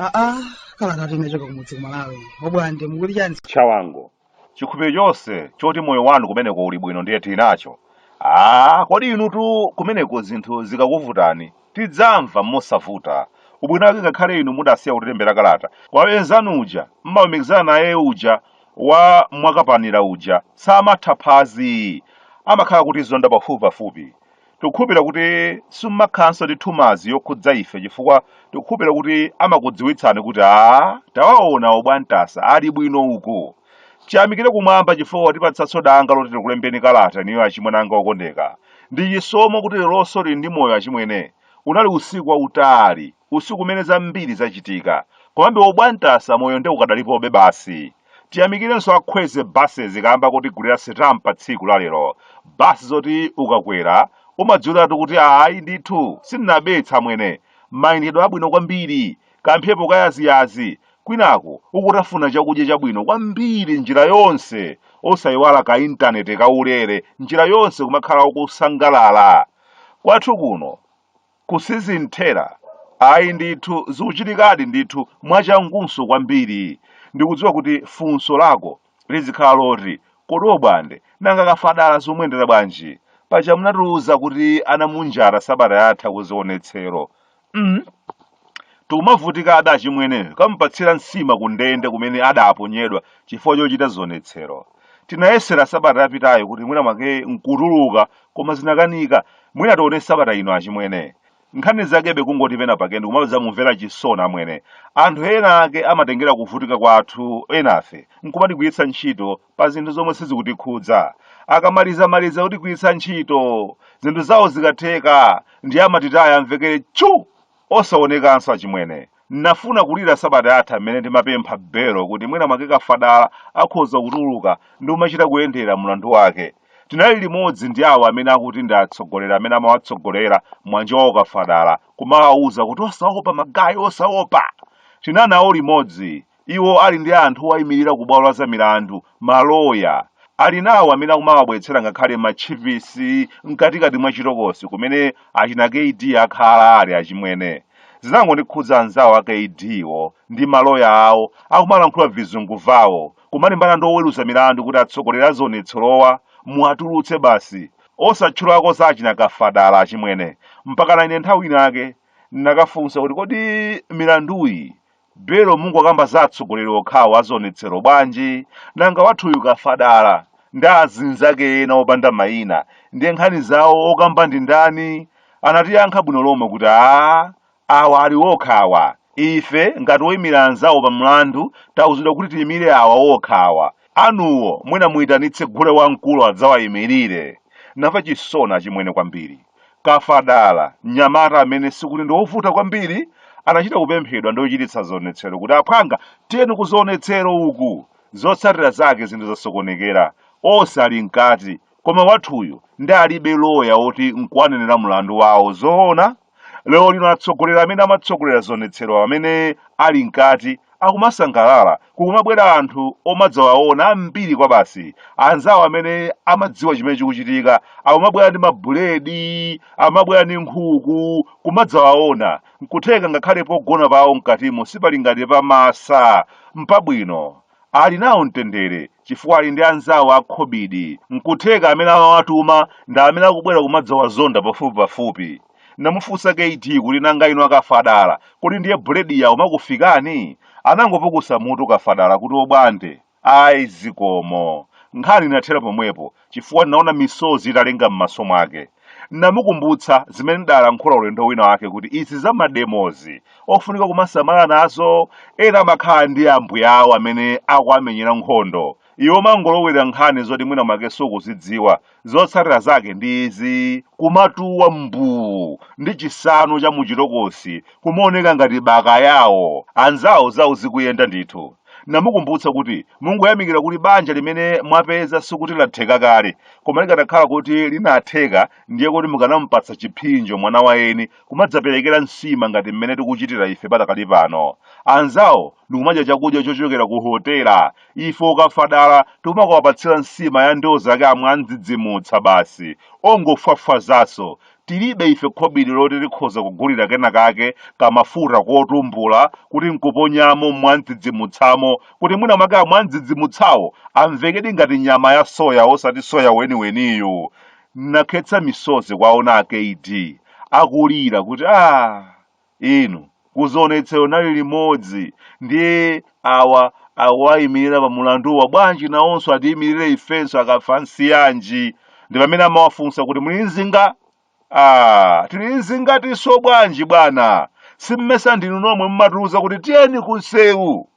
aa kala kati nachoka kumudzi kumalawi obwande mukuti chani chawango chikhulupiriro chonse choti moyo wanu kumeneko uli bwino ndiye tili nacho aa kodi inutu kumeneko zinthu zikakuvutani tidzamva mosavuta ubwino wake ngakhale inu mudasiya kutilembera kalata kwa enzanu uja mmalumikizana naye uja wa mwakapanira uja samatha phazi amakhala akutizonda pafupipafupi tikukhulupirira kuti simumakhalanso ndi thumazi yokhudza ife chifukwa tikukhulupirira kuti amakudziwitsani kuti a tawaona obwantasa ali bwino uko chiyamikire kumwamba chifukwa kwatipatsanso danga loti tikulembeni kalata niyo achimwene anga okondeka ndi chisomo kuti leronso tili ndi moyo achimwene unali usiku wautali usiku umene zambiri zachitika komabe obwantasa moyo nde ukadalipobe basi tiyamikirenso a kwezy buses kaamba kotigulira sitam pa tsiku la lero basi zoti ukakwera umadziwiratu kuti ayi ndithu sindinabetse amwene mayendedwe abwino kwambiri kamphepo kayaziyazi kwinaku ukutafuna chakudya chabwino kwambiri njira yonse osayiwala ka intaneti kaulere njira yonse kumakhala ukusangalala kwathu kuno Ku sizinthera? Ayi ndithu, zikuchitikadi ndithu mwachangunso kwambiri. Ndikudziwa kuti funso lako lizikhala loti, Kodi Obwande, nanga Kafadala zikumuyendera bwanji? Paja munatiuza kuti anamunjata sabata yatha kuzionetsero. mm. Tikumavutika achimwene kukamupatsira nsima kundende kumene adaponyedwa chifukwa chochita zionetsero. Tinayesera sabata yapitayo kuti mwina mwake nkutuluka koma zinakanika mwina tione sabata ino achimwene nkhani zakebe kungoti pena pake ndikumadzamumvera chisoni amwene anthu ena ake amatengera kuvutika kwathu enafe nkumatigwiritsa ntchito pa zinthu zomwe sizikutikhudza akamaliza maliza kutigwiritsa ntchito zinthu zawo zikatheka ndiye amatitaya amvekere chu Osaonekanso achimwene. Nnafuna kulira sabata yatha mmene ndimapempha belo kuti mwina mwake Kafadala akhoza kutuluka ndi kumachita kuyendera mulandu wake. Tinali limodzi ndi awo amene akuti ndi atsogoleri amene amawatsogolera mwana wawo Kafadala kumawauza kuti osaopa magaye osaopa! Tinali nawo limodzi Iwo ali ndi anthu owayimirira ku bwalo la zamilandu, maloya. Ali nawo amene akumawabweretsera ngakhale matchipisi mkatikati mwa chitokosi kumene achina KD akhala ali achimwene. Zinangondikhudza anzawo a KDwo ndi maloya awo akumalankhula vizungu vawo kumalimbana ndi oweruza milandu kuti atsogoleri a zionetserowa muwatulutse basi osatchulako za achina Kafadala achimwene. Mpakana ine nthawi inayake ndinakafunsa kuti kodi milanduyi Belo mungokamba za atsogoleri okhawo azionetsero bwanji? Nanga wathuyu kafadala ndi azinzake ena opanda maina ndiye nkhani zawo okamba ndi ndani? Anatiyankha bwino lomwe kuti aah awa ali okha awa, ife ngati oimira anzawo pa mlandu tauzidwa kuti tiimire awa okha awa, anuwo mwina muitanitse gule wamkulu adzawaimirire. Namva chisoni achimwene kwambiri. Kafadala, mnyamata amene sikuti ndi wovuta kwambiri, anachita kupemphedwa ndi ochititsa zionetsero kuti, Aphwanga, tiyeni kuzionetsero uku! Zotsatira zake zinthu zasokonekera. Onse ali m'kati, koma wathuyu nde alibe loya woti n'kuwanenera mlandu wawo. Zoona? Lerolino atsogoleri amene amatsogolera zionetsero amene ali m'kati akumasangalala Kukumabwera anthu omadzawaona ambiri kwabasi. Anzawo amene amadziwa chimene chikuchitika akumabwera ndi mabuledi, amabwera ndi nkhuku, kumadzawaona. N'kutheka ngakhale pogona pawo m'katimo sipali ngati pa Massa. M'pabwino. Ali nawo mtendere chifukwa ali ndi anzawo a khobidi. N'kutheka amene amawatuma ndi amene akubwera kumadzawazonda pafupipafupi. Namufunsa KD kuti nanga inu akafadala, kodi ndiye buledi yawo imakufikani? Anangopukusa mutu kafadala kuti obwande, ayi zikomo. Nkhani inathera pomwepo chifukwa naona misozi italenga m'maso mwake. Namukumbutsa zimene ndalankhula ulendo wina wake kuti izi za mademozi, ofunika kumasamala nazo, ena amakhala ndi ambuya awo amene akuwamenyera nkhondo, Iwe umangolowera nkhani zoti mwina mwake sukuzidziwa. Zotsatira zake ndi izi, kumatuwa mbuu ndi chisanu cha muchitokosi kumaoneka ngati bakayawo. Anzawo zawo zikuyenda ndithu. Namukumbutsa kuti mungoyamikira kuti banja limene mwapeza sikuti latheka kale, koma likadakhala kuti linatheka ndiye kuti mukanamupatsa chiphinjo mwana wa eni kumadzaperekera nsima ngati mmene tikuchitira ife padakali pano. Anzawo ndikumadya chakudya chochokera ku hotela ife akafadala tikumakawapatsira nsima ya ndiwo zake amwandzidzimutsa basi ongofwafwazaso tilibe ife khobidi loti tikhoza kugulira kena kake kamafuta kotumbula kuti nkuponyamo mwandzidzimutsamo kuti mwina mwake amwandzidzimutsawo amvekedi ngati nyama ya soya osati soya weniweniyu nakhetsa misozi kuwaona a KD akulira kuti ah inu ku zionetsero nali limodzi ndiye awa akuwayimirira pa mulanduwa bwanji nawonso atiyimirire ifenso akafansiyanji ndi pamene amawafunsa kuti muli nzinga ah tili nzingatinso bwanji bwana simmesa ndinu nomwe mmatiuza kuti tiyeni kunsewu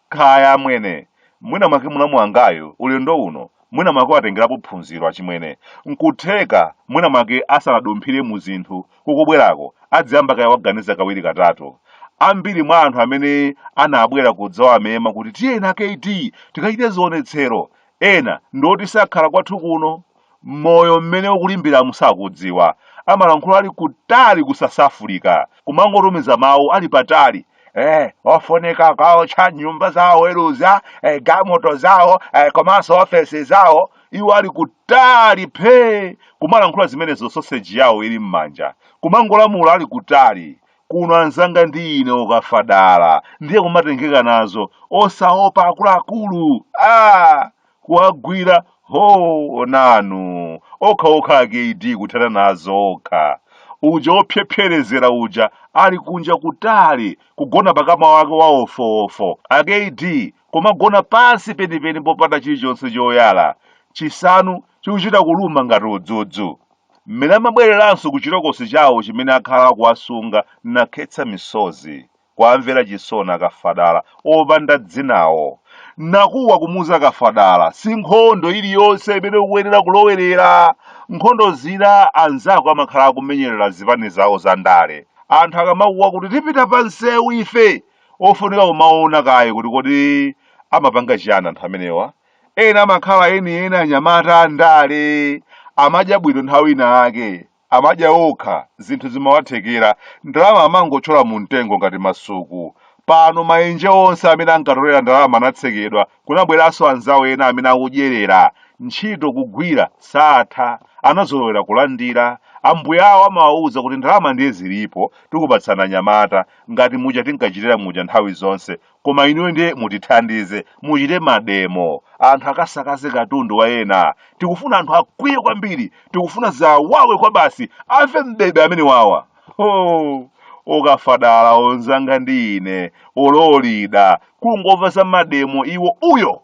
Kaya amwene, mwina mwake mlamu wangayu ulendo uno mwina mwake watengerapo phunziro achimwene. Nkutheka mwina mwake asanadumphire mu zinthu kukubwerako adziyamba kaya waganiza kawiri katatu. Ambiri mwa anthu amene anabwera kudzawamema kuti tiyeni a KD tikachite zionetsero, ena ndi oti sakhala kwathu kuno. moyo mmene ukulimbiramu sakudziwa amalankhula ali kutali ku south africa kumangotumiza mawu ali patali Eh, ofunika kaotcha nyumba za oweruza eh, gamoto zawo eh, komanso ofesi zawo iwo ali kutali phee kumalankhula zimenezo soseji yawo ili m'manja kumangolamula ali kutali kuno anzanga ndi ine okafadala ndiye kumatengeka nazo osaopa akuluakulu ah! kuwagwira hoo nanu okha okha a KD kuthana nazo okha uja ophyephyerezera uja ali kunja kutali kugona pakama wake wa wofuwofu a KD kumagona pansi penipeni popanda chilichonse choyala chisanu chikuchita kuluma ngati udzudzu mmene amabwereranso ku chitokosi chawo chimene akhala akuwasunga nakhetsa misozi kuwamvera chisoni akafadala opanda dzinawo nakuwa kumuuza akafadala si nkhondo iliyonse imene ukuyenera kulowerera nkhondo zina anzako amakhala akumenyerera zipani zawo za ndale anthu akamakuwa kuti tipita pa nsewu ife ofunika kumaona kaye kuti kodi amapanga chiyani anthu amenewa ena amakhala enieni anyamata a ndale amadya bwino nthawi ina ake amadya okha zinthu zimawathekera ndalama amangotchola mumtengo ngati masuku. Pano maenje onse amene ankatolera ndalama anatsekedwa kunabweranso anzawo ena amene akudyerera. Ntchito kugwira satha, anazolowera kulandira. Ambuya awo amawauza kuti ndalama ndiye zilipo tikupatsani anyamata ngati muja tinkachitira muja nthawi zonse koma inuyo ndiye mutithandize muchite mademo anthu akasakaze katundu wa ena tikufuna anthu akwiye kwambiri tikufuna zawawe kwabasi amve m'bebe amenewawa oh. okafadala onzanga ndi ine ololida kungomva za mademo iwo uyo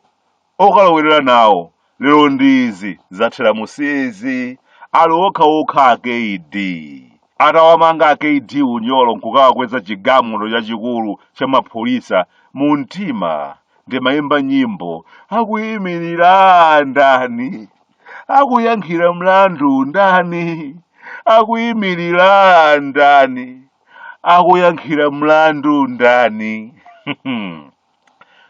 Okalowerera nawo lero ndi izi zathera mu si izi ali okha okha a KD atawamanga a KD unyolo nkukawakweza chigamoto chachikulu cha mapholisa mu mtima ndimaimba nyimbo akuimirira ndani akuyankhira mlandu ndani akuimirira ndani akuyankhira mlandu ndani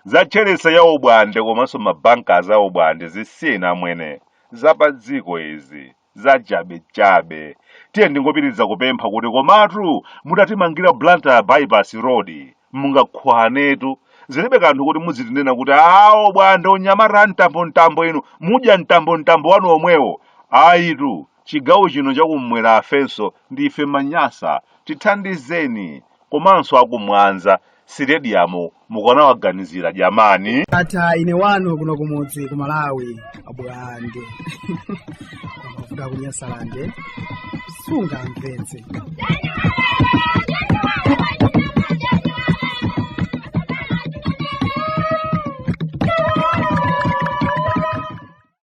Za Chelsea ya obwande komanso ma bankers a obwande zisiyeni amwene. Za pa dziko izi. Za chabe chabe. Tiyeni tingopitiriza kupempha kuti komatu mutatimangira Blantyre Bypass Road mungakhwanetu. Zilibe kanthu kuti mudzitinena kuti aah obwande onyamata a mtambo mtambo inu mudya mtambo mtambo wanu omwewo. Ayitu chigawo chino chakummwera afenso ndife ma Nyasa. Tithandizeni. komanso aku mwanza sitediyamu mukanawaganizira jamani ndatha ine wanu kuno kumudzi ku malawi abwande amavuta kunyasalande sungamvetse